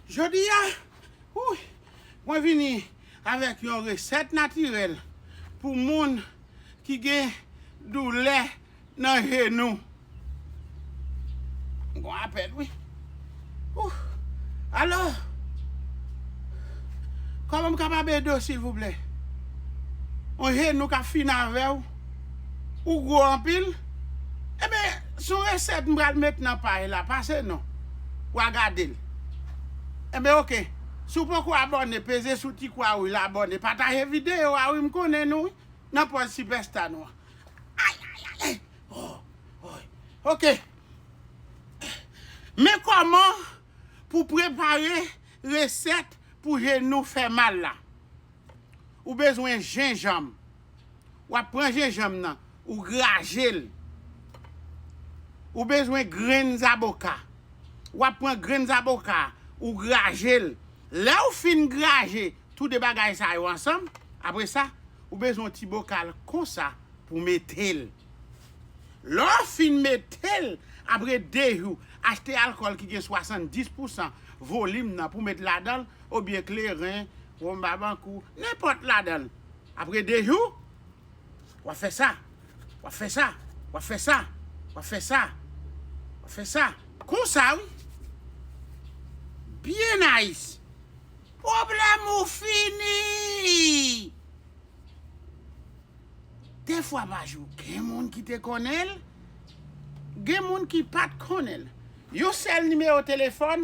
Jodi a, mwen vini avèk yon resèt natirèl pou moun ki gen doulè nan jenou. M gon apèl wi. Alo! Kòman m kapab ede w silvouplè? Yon jenou k ap fini avè w? Ou gwo anpil Ebyen son resèt m pral met nan pay la pase non Wa gadel Ebyen ok Si w poko abòne peze sou ti kwa rouj la abòne pataje videyo a wi m konnen nou wi nan pòz sipèsta nou an Ayayayay Ohh Ohh Ok Men kòman pou prepare resèt pou jenou fè mal la Ou bezwen jenjanm. W ap pran jenjanm nan, ou graje l. Ou bezwen grenn zaboka. W ap pran grenn zaboka a, ou graje l. Lè ou fin graje tou de bagay sa yo ansanm, apre sa, ou bezwen yon ti bokal konsa pou w mete l. Lè w fin mete l, apre de jou, achte alkòl ki gen 70 pousan volim nan pou w met ladan l, obyen kleren, wonm babankou, nenpòt ladan l. Apre 2 jou, w'ap fè sa, w'ap fè sa, w'ap fè sa, w'ap fè sa, w'ap fè sa. Konsa wi. Byen nayis. Pwoblèm ou fini! De fwa pa jou. Gen moun ki te konnen l, gen moun ki pa t konnen l. Yon sèl nimewo telefòn,